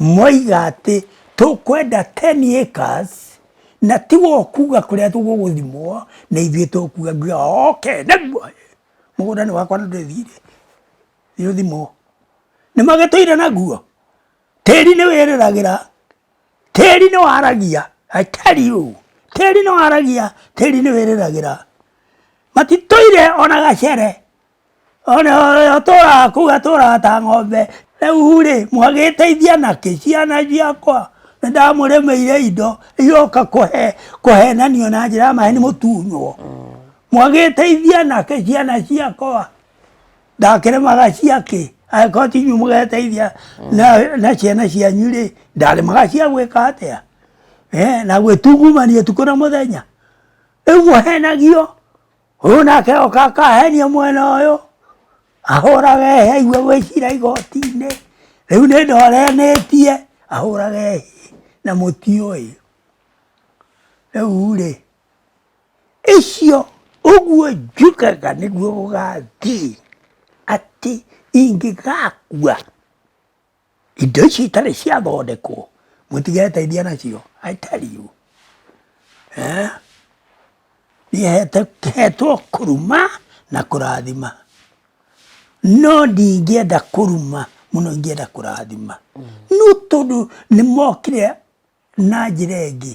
Moiga atĩ, Tũkwenda ten acres, na tiwe ũkuuga kũrĩa tũgũgũthimwo, nĩ ithuĩ tũkuuga. Nguuga okay, nĩguo ĩ! Mũgũnda nĩ wakwa na ndũrĩ thiirĩ. Thiĩ ũthimwo. Nĩ magĩtũire naguo? Tĩĩri nĩ wĩrĩragĩra. Tĩĩri nĩ waragia. I tell you! Tĩĩri nĩ waragia. Tĩĩri nĩ wĩrĩragĩra. Matitũire o na gacere. one atũraga kũu atũraga ta ng'ombe rĩu rĩ mwagĩteithia nakĩ ciana ciakwa nĩ ndamũrĩmĩire indo iroka kũhe kũhenanio na njĩra ya maheni mũtunywo mwagĩteithia nakĩ ciana ciakwa ndakĩrĩmaga ciakĩ angĩkorwo ti inyuĩ mũgeteithia na- na ciana cianyu rĩ ndarĩmaga cia gwĩka atĩa Eh, na gwĩtungumania ũtukũ na mũthenya rĩu mũhenagio Ũyũ nake oka akaheria mwena ũyũ ahũrage hĩa igue gwĩcira igoti-inĩ rĩu nĩ ndoreanĩtie ahũrage hĩa na mũti ũyũ rĩu rĩ icio ũguo njugaga nĩguo gũgathiĩ atĩ ingĩgakua Indo ici itarĩ ciathondekwo mũtigeteithia nacio I tell you. Eh? Niĩ hetwo kũruma na kũrathima no ndingĩenda kũruma mũno ingĩenda kũrathima no tondũ nĩ mokire na njĩra ĩngĩ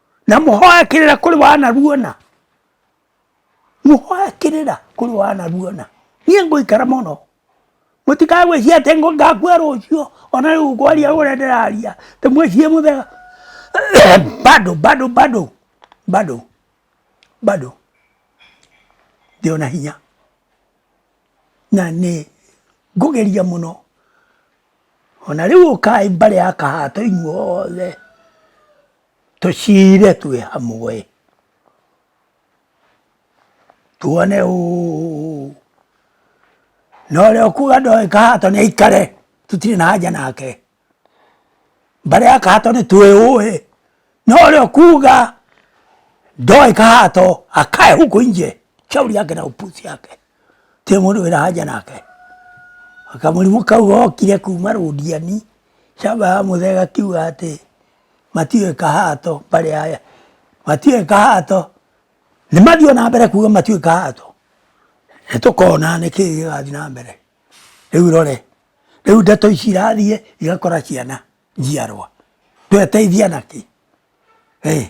na mũhoyakĩrĩra kũrĩ wanaruona mũhoyakĩrĩra kũrĩ wanaruona niĩ ngũikara mũno mũtikae gwĩcia atĩ ngo- ngakua rũciũ ona rĩu kwaria ũrĩa ndĩraria ndĩmwĩcie mũthega bado bado bado bado bado ndĩ ona hinya na nĩ ngũgeria mũno ona rĩu ũkaĩ mbarĩ ya kahato inyuothe Tũciire twĩ hamwe tuone ũũ na ũrĩa ũkuga ndoĩ kahato nĩ aikare tũtirĩ na haja nake mbara ya kahato nĩ twĩ ũĩ na ũrĩa ũkuga ndoĩ kahato akae huko nje shauri yake na upuzi yake Ti mundu wina haja nake. Kamurimu kau gokire kuma Rundiani, caba ya muthe gakiuga ati matiui kahato bari haya. Matiui kahato. Nimathii ona mbere kuga matiui kahato. Nitukona niki kirathii na mbere. Riu rore. Riu ndeto ici irathie igakora ciana njiarwa. Tweteithia naki. Ii.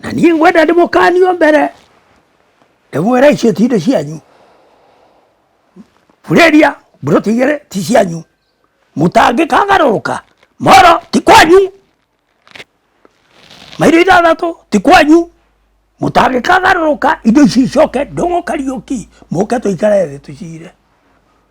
na niĩ ngwenda ndĩmũkanio mbere ndĩmwĩra icio ti indo cianyu burĩria mburoti igĩrĩ ti cianyu mũtangĩkagarũrũka moro ti kwanyu mairo ithathatũ ti kwanyu mũtangĩkagarũrũka indo ici icoke ndũng'ũkariũki mũke tũikare thĩ tũcire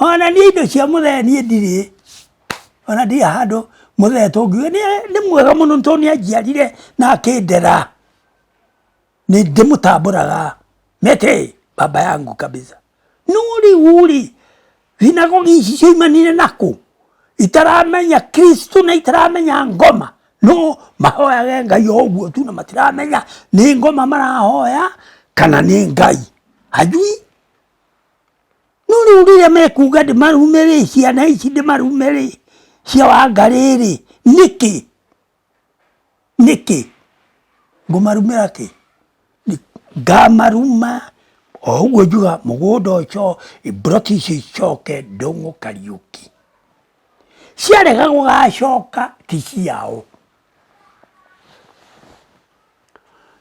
Onania indo cia mũthee niĩ ndirĩ ona ndirĩ handũ mũthee tũngiuga nĩ mwega mũno tondũ nĩ anjiarire na akĩndera nĩ ndĩmũtambũraga mĩtĩ baba yangu kabisa no rĩu rĩ thinagogi ici ciaumanire na kũ itaramenya Kristo na itaramenya ngoma no mahoyage Ngai o ũguo tu na matiramenya nĩ ngoma marahoya kana nĩ Ngai hajui No rĩu rĩrĩa mekuga ndĩmarume rĩ, ciana ici ndĩmarume rĩ, cia Wangarĩ rĩ, nĩkĩ? Nĩkĩ? Ngũmarumĩra kĩ? Ngamaruma o ũguo njugaga mũgũnda ũcio, mburoti icio icoke Ndũng'ũ Kariũki. Ciarega gũgacoka ti ciao.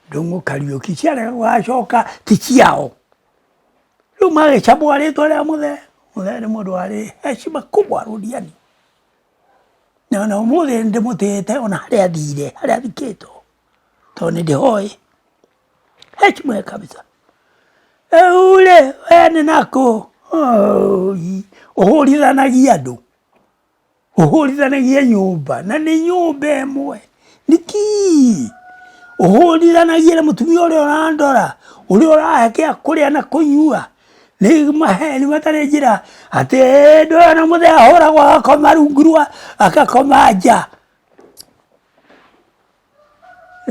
Ndũng'ũ Kariũki ciarega gũgacoka ti ciao. rĩu magĩcambũa rĩtwa rĩa mũthee mũthee nĩ mũndũ warĩ heshima kubwa rũriani na ona ũmũthĩ ndĩmũtĩĩte ona harĩa athire harĩa athikĩtwo tondũ nĩ ndĩhoĩ heshima ya kabisa rĩu rĩ we nĩ nakũ ũhũrithanagia andũ ũhũrithanagia nyũmba na nĩ nyũmba ĩmwe nĩkĩ ũhũrithanagia na mũtumia ũrĩa ũrandora ũrĩa ũrahe kĩa kũrĩa na kũnyua nĩ maheni matarĩ njĩra atĩ hĩndĩ ĩyo na mũthee ahũragwo agakoma rungu rwa agakoma nja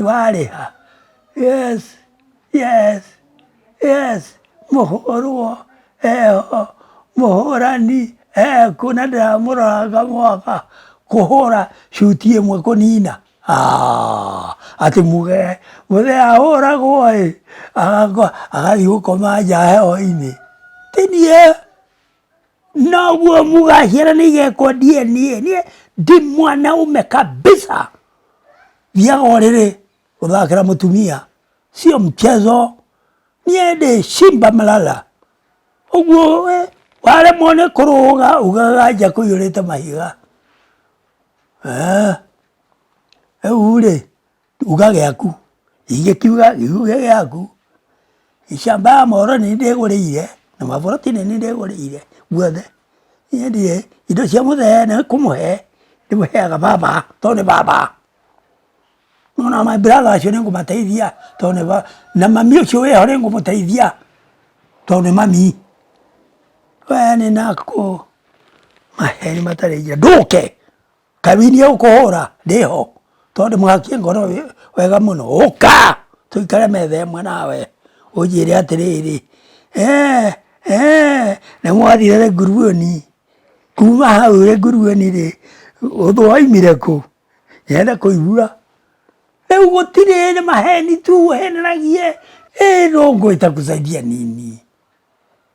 warĩha yes yes yes mũhũrwo eho mũhũrani ekũ na ndĩramũroraga mwaka kũhũra cuti ĩmwe kũnina Ah, atĩ muge mũthee ahũragwo ĩ agathiĩ gũkoma nja heho-inĩ tinie noguo mũgaciara nĩ igekwo DNA niĩ ndi mwanaume kabisa thiaga ũrĩrĩ gũthakĩra mũtumia sio mchezo niĩ ndĩ Simba Malala ũguo we waremwo nĩ kũrũga ugaga nja kũiyũrĩte mahiga eeh rĩu rĩ Uga gĩaku, ingĩkiuga uge gĩaku, shamba ya mũhoro nĩ ndĩgũrĩire na maburoti nĩ ndĩgũrĩire guothe. Niĩ ndirĩ, indo cia mũthee nĩ kũmũhe ndĩmũheaga baba to nĩ baba. Ona my brother acio nĩ ngũmateithia to nĩ baba, na mami ũcio wĩ ho nĩ ngũmũteithia to nĩ mami. Rĩu aya nĩ nakũmahe matarĩ njĩra, ndũke! Kawini ũkũhũra ndĩho tondũ mũhakie ngoro wega mũno ũka tũikare metha ĩmwe nawe ũnjĩre atĩrĩrĩ eh eh nĩ mwathire rĩ nguruoni kuma hau rĩ nguruoni rĩ ũthũ waumire kũ nyende kũigua rĩu gũtirĩ nĩ maheni tu ũheneragie ĩĩ no ngũgĩta kusaidia nini.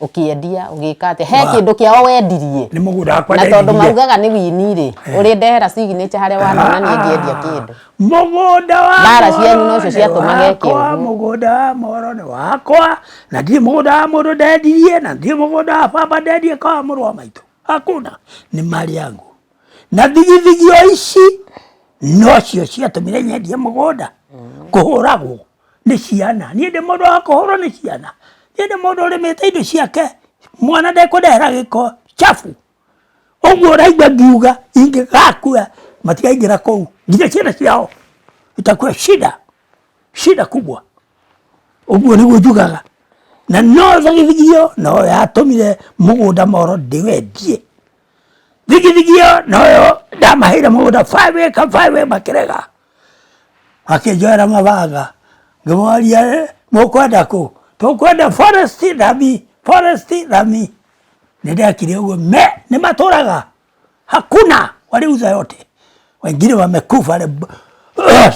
ũkĩendia ũgĩka atĩa he Wa- kĩndũ kĩao wendirie nĩ mũgũnda wakwa na tondũ ndendirie. maugaga nĩ wini rĩ ũrĩ ndehera signature harĩa wanonania ngĩendia kĩndũ mũgũnda wa Mbara Moro cianyu nocio nĩ ciatũma geke wakwa, ũguo. mũgũnda wa moro nĩ wakwa na ndirĩ mũgũnda wa mũndũ ndendirie na ndirĩ mũgũnda wa baba ndendirie kwa mũrũ wa maitũ hakuna nĩ mali yangu na thigithigio ici nocio ciatũmire nyendie mũgũnda kũhũragwo nĩ ciana niĩ ndĩ mũndũ wa kũhũrwo nĩ ciana niĩ ndĩ mũndũ ũrĩmĩte indo ciake mwana ndekũndehera gĩko chabu ũguo ũraigua ngiuga ingĩgakua matigaingĩra kũu nginya ciana ciao itakuwa shida shida kubwa ũguo nĩguo njugaga na no thagithio no yatũmire mũgũnda moro ndĩwendie thigithigi ĩyo noyo ndamaheire mũgũnda five acre five acre makĩrega makĩnjoera mabanga ngĩmoria "Eh, mũkwenda kũ tũkwenda forest thami forest thami nĩ ndekire ũguo me nĩ matũraga hakuna waliuza yote wengine wamekufa le-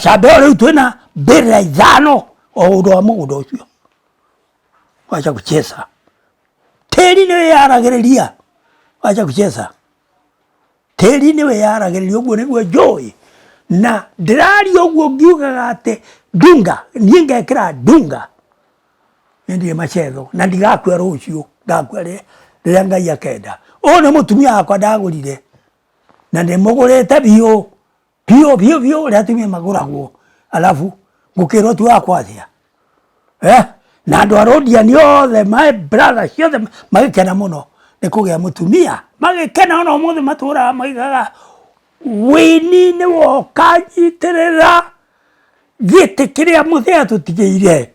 shamba ĩyo rĩu twĩna mbĩra ithano o ũndũ wa mũgũnda ũcio wacha kucheza Tĩri nĩ wĩyaragĩrĩria, wacha kucheza. Tĩri nĩ wĩyaragĩrĩria ũguo nĩguo njũĩ. Na ndĩraria ũguo ngiugaga atĩ Dunga, niĩ ngekĩra Dunga. Niĩ ndirĩ macetho na ndigakua rũciũ, ngakua rĩrĩa Ngai akenda. Ũyũ nĩ mũtumia wakwa ndagũrire na ndĩmũgũrĩte biũ. Bio bio bio ule atumia magura guo. Alafu ngukirwo tu akwa atia. Eh? Na andu arodia ni othe my brother ciothe magikena muno ni kugia mutumia. Magikena ona umuthi matura maigaga wini ni woka nyitirira giti kiria muthia tutigeire.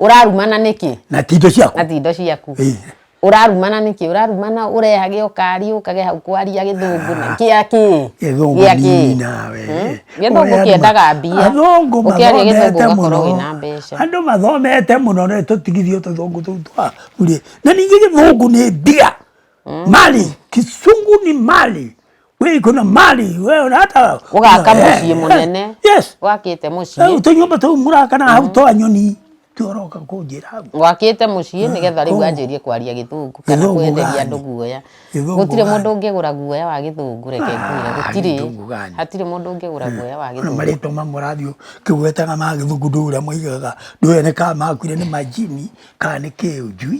Ũrarumana nĩkĩ? Na ti indo ciaku. Na ti indo ciaku. Ĩĩ. Ũrarumana nĩkĩ? Ũrarumana ũrehage ũkari ũkage hau kwaria gĩthũngũ na kĩa kĩ? Gĩthũngũ Gĩa kĩ? nini nawe. Hmm? Gĩthũngũ Ũrĩa kĩendaga andũ- mbia. Athũngũ Ũkĩaria gĩthũngũ mathomete ũgakorwo mũno. wĩna mbeca. Andũ mathomete mũno rĩ tũtigithio tũthũngũ tũu twa rĩ. Na ningĩ gĩthũngũ nĩ mbia. Mali, kisungu ni mali. we iko na mali we ona hata Ũgaka Eh, mũciĩ eh, mũnene. yes wakite Eh, mucii tunyumba tu muraka na hau twa nyoni tuoroka kunjira hau wakite mucii nigetha riu Gĩthũngũ. anjirie kwaria githungu kana Gĩthũngũ kwenderia gani? andu guoya Gĩthũngũ gutire gani? mundu ungigura guoya wa githungu reke ngwire Ah, gutire gĩthũngũ gani? hatire mundu ungigura guoya wa na githungu marĩtwa mamwe rathiũ kĩgwetaga ma gĩthungu ndũrĩa maigaga ndũrĩa nĩ kaa makuire nĩ majini kaa nĩ kĩũnjui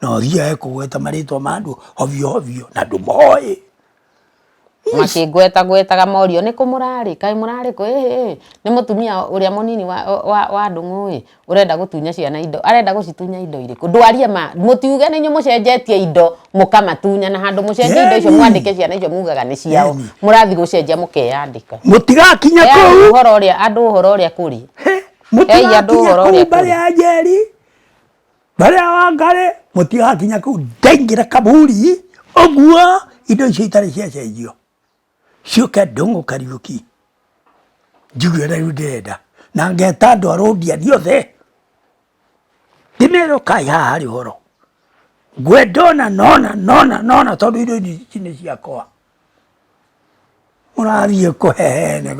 na ũthiae kũgweta marĩtwa ma andũ hovio hovio na ndũmoĩ makĩngweta gwetaga morio nĩ kũ mũrarĩ kaĩ mũrarĩ kũ ĩhĩ ĩhĩ nĩ mũtumia ũrĩa mũnini wa, wa, wa ndũng'ũ ĩ ũrenda gũtunya ciana indo arenda gũcitunya indo irĩkũ ndwarie ma mũtiuge nĩ inyuĩ mũcenjetie indo mũkamatunya na handũ mũcenjie indo icio Yeni. mwandĩke ciana icio mugaga nĩ ciao Yeni. mũrathiĩ gũcenjia mũkeyandĩka mũtigakinya Heai kũu ũhoro ũrĩa andũ ũhoro ũrĩa kũrĩ He, mũtigakinya andũ ũhoro kũu ũrĩa mbare kũrĩ. ya njeri Mbere ya Wangari mũtigakinya kũu ndaingĩra kaburi ũguo indo icio itarĩ ciacenjio ciũke ndũng'ũ Kariuki njigue ũrĩa rĩu ndĩrenda na ngeta andũ a Rũndiani othe ndĩmerwo kai haha harĩ ũhoro ngwenda ona nona nona nona tondũ indo ici nĩ ciakwa mũrathiĩ kũhehene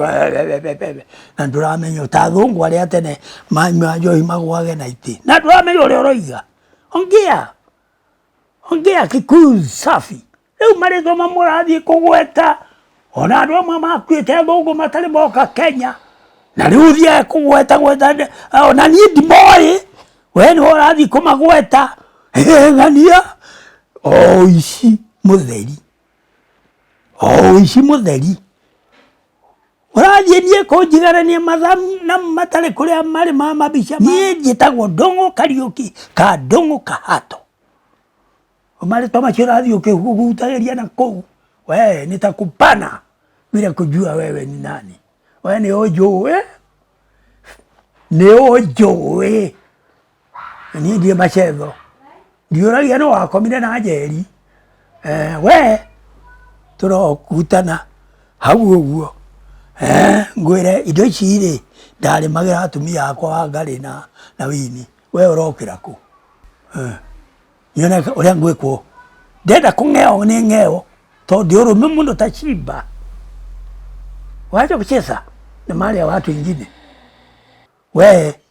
na ndũramenya ta athũngũ arĩa tene manyua njohi magwage na itĩ na ndũramenya ũrĩa ũroiga ongea ongea kikuyu safi rĩu marĩtwa mamwe ũrathiĩ kũgweta ona andũ amwe makuĩte athũngũ matarĩ moka kenya na rĩu ũthiaga kũgweta gweta ona niĩ ndimoĩ we nĩwe ũrathiĩ kũmagweta ng'ania oici mũtheri ũici mũtheri ũrathiĩ niĩ kũnjigarania mathaa na matarĩ kũrĩa marĩ ma mabica niĩ njĩtagwo ndũng'ũ kariũki ka ndũng'ũ kahato marĩtwa macio ũrathiĩ ũkĩhutagĩria na kũu we nĩ ta kupana bila kujua wewe ni nani we nĩ ũnjũĩ nĩ ũnjũĩ niĩ ndiĩ macetho ndiũragia no wakomire na njeri eh, we tũrokutana hau ũguo eh, ngwĩre indo ici rĩ ndarĩmagĩra atumia akwa wa ngarĩ na, na wini we ũrokĩra kũ eh, nyone ũrĩa ngwĩkwo ndenda kũng'eo nĩ ng'eo tondũ ndĩ ũrũme mũno ta cimba wacha kucheza na mali ya watu wengine we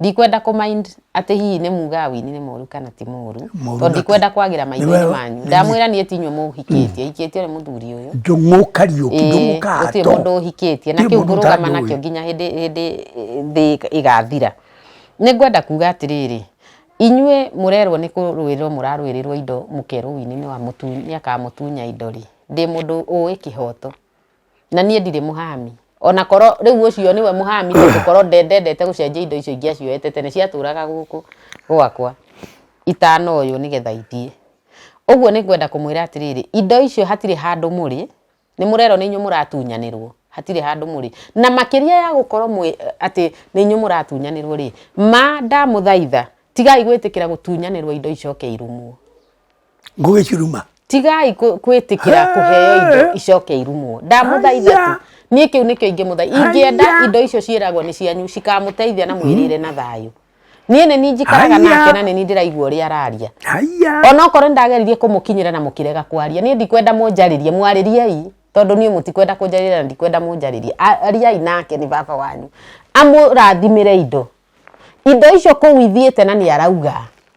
ndikwenda kå mind atä hihi nä mugaga wini nä moru kana ti moru Moru tondå na ti- ndikwenda kwagä ra maitho-inä Nĩwe- manyu ndamwä ra niä tinyuä må hikä tie hikä tie å rä må thuri å yå njũng'ũ kariũki Ĩĩ, njũng'ũ gũtirĩ mũndũ kato ũhikĩtie Gũtirĩ na kĩu mũndũ ngũrũgama ũtangĩũĩ. nakĩo nginya hĩndĩ hĩndĩ thĩ ĩgathira nĩ ngwenda kuga atĩrĩrĩ inyuĩ mũrerwo nĩ kũrũĩrĩrwo mũrarũĩrĩrwo indo mũkerwo wini nĩ wa mũtu nĩ akamũtunya indo rĩ ndĩ mũndũ ũĩ kĩhoto na niĩ ndirĩ mũhami ona korwo rĩu ũcio nĩwe mũhami tondũ korwo nde- ndendete gũcenjia indo icio ingĩ acioete tene ciatũraga gũkũ gwakwa itana ũyũ nĩgetha ithiĩ ũguo nĩ ngwenda kũmwĩra atĩrĩrĩ indo icio hatirĩ handũ mũrĩ nĩ mũrerwo nĩ inyuĩ mũratunyanĩrwo hatirĩ handũ mũrĩ na makĩria ya gũkorwo mwĩ atĩ nĩ inyuĩ mũratunyanĩrwo rĩ ma ndamũthaitha tigai gwĩtĩkĩra gũtunyanĩrwo indo icoke irumwo ngũgĩ ciruma tigai kũ- kwĩtĩkĩra kũheo indo icoke irumwo ndamũthaitha Haiya. tu niĩ kĩu nĩkĩo ingĩmũtha ingĩenda Haiya. indo icio ciĩragwo nĩ cianyu cikamũteithia na mwĩrĩre na thayũ niĩ nĩ niĩ njikaraga Haiya. nake na nĩ niĩ ndĩraigua ũrĩa araria haiya onokorwo nĩ ndageririe kũmũkinyĩra na mũkĩrega kwaria niĩ ndikwenda mũnjarĩrie mwarĩriei tondũ niĩ mũtikwenda kũnjarĩria na ndikwenda mũnjarĩrie A- ariai nake nĩ baba wanyu amũrathimĩre indo indo icio kũu ithiĩte na nĩ arauga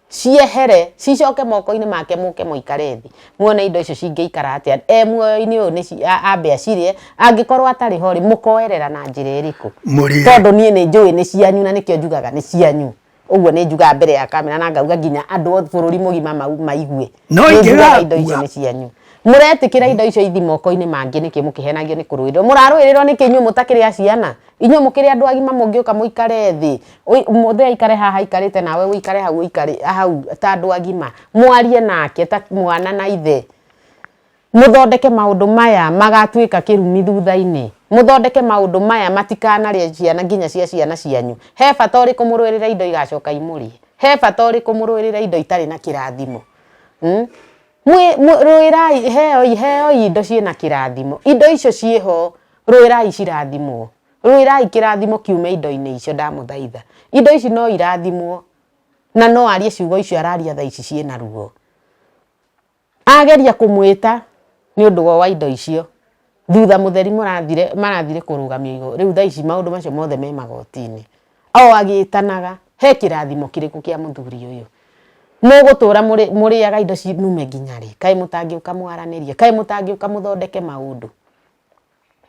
ciehere cicoke moko-inĩ make mũke mũikare thĩ muone indo icio cingĩikara atĩa e muoyo-inĩ ũyũ nĩ ambe acirĩe angĩkorwo atarĩ ho rĩ mũkoerera na njĩra ĩrĩkũ Mũrĩe. tondũ niĩ nĩ njũĩ nĩ cianyu na nĩkĩo njugaga nĩ cianyu ũguo nĩ njugaga mbere ya kamera na ngauga nginya andũ othe bũrũri mũgima mau- maigue No Nĩ njugaga indo icio ingĩgakua. nĩ cianyu mũretĩkĩra indo icio ithi moko-inĩ mangĩ nĩkĩ mũkĩhenagio nĩ kũrũĩrĩrwo mũrarũĩrĩrwo nĩkĩ inyuĩ mũtakĩrĩ a ciana inyuĩ mũkĩrĩ andũ agima mũngĩũka mũikare thĩ mũthĩ aikare haha aikarĩte nawe ũikare hau ũikare hau ta andũ agima mwarie nake ta mwana na ithe muthondeke maundu maya magatuika kĩrumi thutha-inĩ muthondeke maundu maya matikanarĩa ciana nginya cia ciana cianyu he bata ũrĩkũ mũrũĩrĩra indo igacoka imũrĩe he bata ũrĩkũ mũrũĩrĩra indo itarĩ na kĩrathimo hmm? Mwĩ- mwĩ- rũĩrai heoi heoi indo ciĩ na kĩrathimo indo icio ciĩ ho rũĩrai cirathimwo rũĩrai kĩrathimo kiume indo-inĩ icio ndamũthaitha indo ici no irathimwo na no arie ciugo icio araria tha ici ciĩ na ruo ageria kũmwĩta nĩ ũndũ wa wa indo icio thutha mũtheri mũrathire marathire kũrũgamio igũrũ rĩu thaa ici maũndũ macio mothe me magoti-inĩ o agĩtanaga he kĩrathimo kĩrĩkũ kĩa mũthuri ũyũ mũgũtũra mũrĩ- mũrĩaga indo cinume nginya rĩ kaĩ mũtangĩũka mwaranĩrie kaĩ mũtangĩũka mũthondeke maũndũ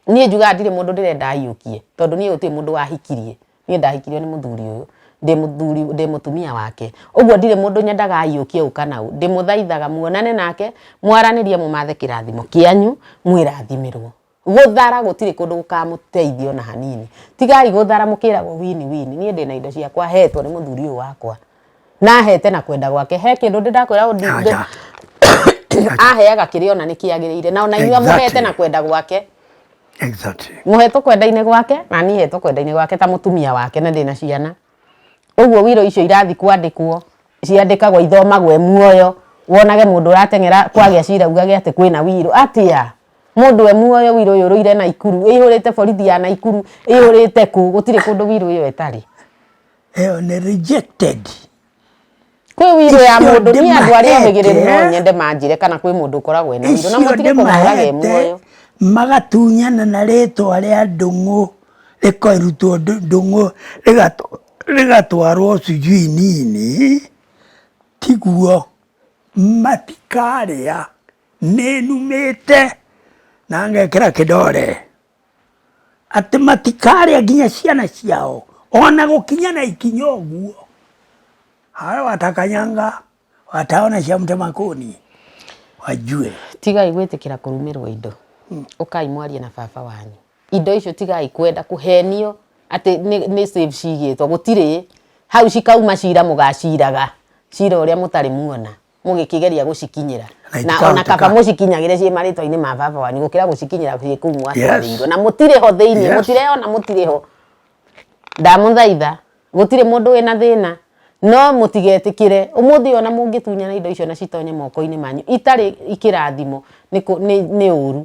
niĩ njugaga ndirĩ mũndũ ndĩrenda aiyũkie tondũ niĩ gũtirĩ mũndũ wahikirie niĩ ndahikirio nĩ mũthuri ũyũ ndĩ mũthuri ndĩ mũtumia wake ũguo ndirĩ mũndũ nyendaga ayũkie ũka na ũ ndĩmũthaithaga muonane nake mwaranĩrie mũmathe kĩrathimo kĩanyu mwĩrathimĩrwo gũthara gũtirĩ kũndũ gũkamũteithia ona hanini tigai gũthara mũkĩragwo wini wini niĩ ndĩna indo ciakwa hetwo nĩ mũthuri ũyũ wakwa nahete na kwenda gwake he kindu ndi ndakwira undi Aja. aheaga kiri ona ni kiagirire na ona inyua muhete Exactly. na kwenda gwake Exactly. muhetwo kwenda-inĩ gwake na niĩ hetwo kwenda-inĩ gwake ta mũtumia wake na ndĩna ciana ũguo wiro icio irathiĩ kwandĩkwo ciandĩkagwo ithomagwo e muoyo wonage mũndũ ũrateng'era kwagĩa cira ugage atĩ kwĩna wiro atĩa mũndũ e muoyo wiro ũyũ ũrũire naikuru ĩihũrĩte borithi ya naikuru ĩihũrĩte kũ gũtirĩ kũndũ wiro ĩyo ĩtarĩ ĩyo nĩ rejected kwĩ wiro ya Icio mũndũ niĩ andũ arĩa ndĩmahete. omĩgĩrĩru no nyende manjĩre kana kwĩ mũndũ ũkoragwo ena wiro na icio mũtige kũmũraga e ndĩmahete muoyo magatunyana na rĩtwa rĩa ndũng'ũ rĩkarutwo ndũ- ndũng'ũ rĩgatw- rĩgatwarwo sijui nini tiguo matikarĩa nĩnumĩte na ngekĩra kĩdore atĩ matikarĩa nginya ciana ciao ona gũkinya na ikinya ũguo hawe watakanyanga wataona cia mũtema kũni wajue tigai gwĩtĩkĩra kũrumĩrwo indo hmm. ũkai mwarie na baba wanyu indo icio tigai kwenda kũhenio atĩ nĩ save cigĩtwo gũtirĩ hau cikauma cira mũgaciraga cira ũrĩa mũtarĩ muona mũgĩkĩgeria gũcikinyĩra Na na itikahoteka. ona kaba mũcikinyagĩre ciĩ marĩtwa-inĩ ma baba wanyu gũkĩra gũcikinyĩra ciĩ kũu mwatwarĩirwo na mũtirĩ ho thĩinĩ Yes. mũtireyona mũtirĩ ho ndamũthaitha gũtirĩ mũndũ wĩna thĩna no mũtigetĩkĩre ũmũthĩ ona mũngĩtunyana indo icio na citonye moko-inĩ manyu itarĩ ikĩrathimo nĩ kũ- nĩ nĩ ũru